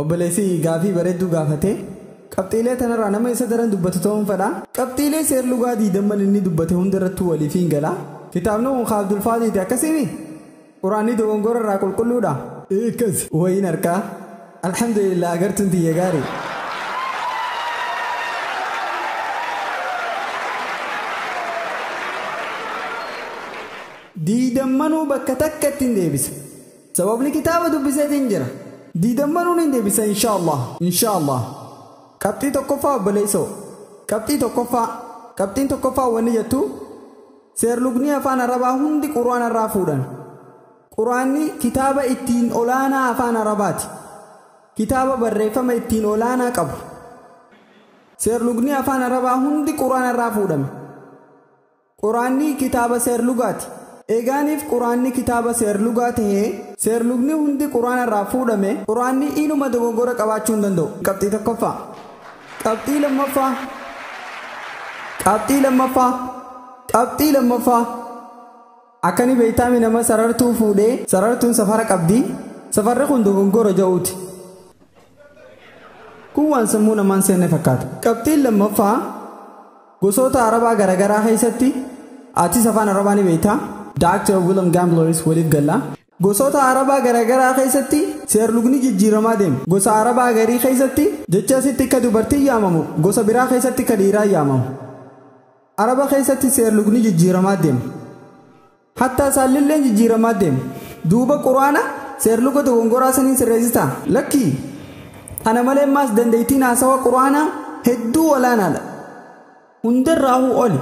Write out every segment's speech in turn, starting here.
Obboleessi gaafii bareedduu gaafate. Qabxiilee tanarraa nama isa daran dubbatu ta'uun fedha. Qabxiilee seerlugaa diidamman inni dubbate hundarrattuu waliif hin gala. Kitaabni kun ka Abdulfaadiiti akkasimi? Quraanni dogongora irraa qulqulluudha? Ee akkasi. Wayiin harkaa. Alhamdulillah agartuun tiyya gaari. Diidammanuu bakka takkatti hin deebisa. Sababni kitaaba dubbiseetiin jira. Diidammanuu niin deebisa inshaallah inshaallah. Qabxii tokkoffaa obboleessoo. Qabxii tokkoffaa. Qabxiin tokkoffaa wanni jettu seerlugnii afaan arabaa hundi qur'aana irraa fuudhan. Qur'aanni kitaaba ittiin olaanaa afaan arabaati. Kitaaba barreeffama ittiin olaanaa qabu. Seerlugnii afaan arabaa hundi qur'aana irraa fuudhame. Quraanni kitaaba seerlugaati. Eegaaniif Quraanni kitaaba seerlugaa tahee, seerlugni hundi Quraana irraa fuudhame, Quraanni inuma dogoggora qabaachuu hin danda'u. Qabxii tokkoffaa. Qabxii lammaffaa. Qabxii lammaffaa. Qabxii lammaffaa. Akka ni beeytaami nama sarartuu fuudhee, sarartuun safara qabdi, safarri kun dogoggora ja'uuti. Kun waan sammuu namaan seenne fakkaata. Qabxiin lammaffaa. Gosoota Arabaa garagaraa keessatti atis afaan Arabaa ni beektaa? Dr. Willem Gamblers waliif galla. Gosoota Arabaa garagaraa keessatti seerlugni jijjiiramaa deema. Gosa Arabaa garii keessatti jecha asitti akka dubartiin yaamamu gosa biraa keessatti akka dhiiraa yaamamu. Araba keessatti seerlugni jijjiiramaa deema. Hattaa saallilleen jijjiiramaa deema. Duuba Qur'aana seerluga dogongoraa saniin sirreessitaa? Lakkii! Kana malee maas dandeettiin haasawa Qur'aanaa hedduu olaanaadha. Hundarraahuu oli.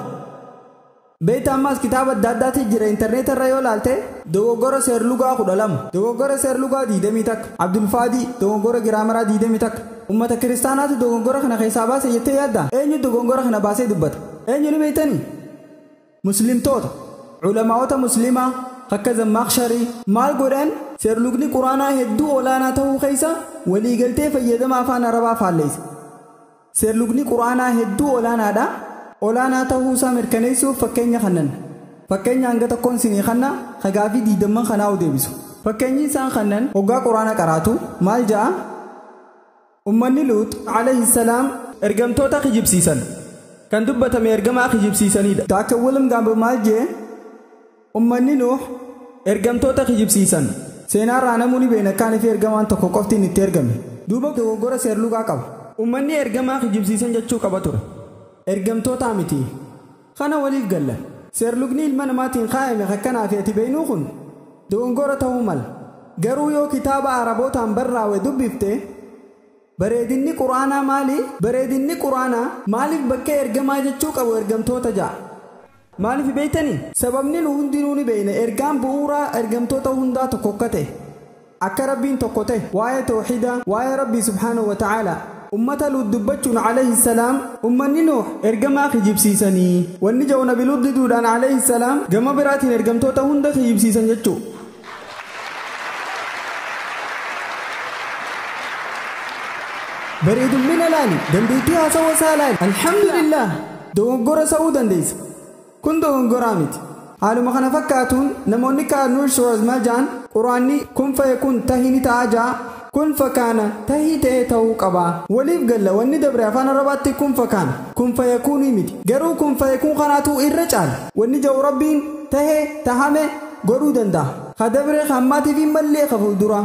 Beektaa ammaas kitaaba adda addaati jira interneeta irra yoo laalte. Dogoggora seerlugaa 12. Dogoggora seerlugaa 21. Abdulfaadii, dogoggora giraamaraa 21. Ummata kiristaanaatu dogoggora kana keessaa baase jettee yaaddaa? Eenyu dogoggora kana baasee dubbata? Eenyu ni beektanii? Muslimtoota, Ulamaa'ota Muslimaa, akka Zammakhsharii, maal godhan? Seerlugni Qur'aanaa hedduu olaanaa tahuu keessa waliigaltee fayyadama Afaan Arabaa faalleysa. Seerlugni Qur'aanaa hedduu olaanaadha, olaanaa tahuu isaa mirkaneessuuf fakkeenya kannan. Fakkeenya hanga tokkoon sinii kanna, ka gaafii diiddamman kanaa'uu deebisu. Fakkeenyi isaan kannan, hoggaa Qur'aana qaraatu, maal ja'a? Ummanni Luux, alayhi salaam, ergamtoota kijibsiisan. Kan dubbatame ergamaa kijibsiisaniidha. Dr. Wilm Gambo maal jee? Ummanni Nuuh, ergamtoota kijibsiisan. Seenaa irraa namuu ni beekna akkaan fi ergamaan tokko qofti inni itti ergame. Duuba dogoggora seerlugaa qaba. Ummanni ergamaa kijibsiisan jechuu qaba ture. Ergamtootaa miti. Kana waliif galla. Seerlugni ilma namaatiin kaayame ka akkanaa fi ati beynuu kun dogongora tahuu mala. Garuu yoo kitaaba Arabootaan barraawe dubbifte bareedinni Qur'aanaa maali? Bareedinni Qur'aanaa maaliif bakkee ergamaa jechuu qabu ergamtoota ja'a? Maaliif beytanii? Sababni nu hundinuu ni beyna ergaan bu'uuraa ergamtoota hundaa tokko akka tahe. Akka Rabbiin tokko ta'e, waa'ee tawhiidaa, waa'ee Rabbii subhaanahu wa ta'aalaa, ummata Luut dubbachuun alayhi salaam, ummanni Nuuh ergamaa kijibsiisanii, wanni ja'u nabi Luut diduudhaan alayhi salaam, gama biraatiin ergamtoota hunda kijibsiisan jechu'u. Bareedummina laali, dandeettii haasawa isaa laali, alhamdulillaah, dogoggora sa'uu dandeessa. Kun dogongoraa miti. Haaluma kana fakkaatuun namoonni akka Arnold Schwarzmajan Qur'aanni kun faye kun tahi ni ta'a ja'a, kun fakaana tahii ta'ee tahuu qaba. Waliif galla wanni dabre afaan Arabaatti kun fakaana, kun fayakuunii miti. Garuu kun fayekuun kanaatu irra caala. Wanni ja'u Rabbiin, tahe, tahame, godhuu dandaha. Ka dabre, ka ammaatii fi mallee ka fuulduraa.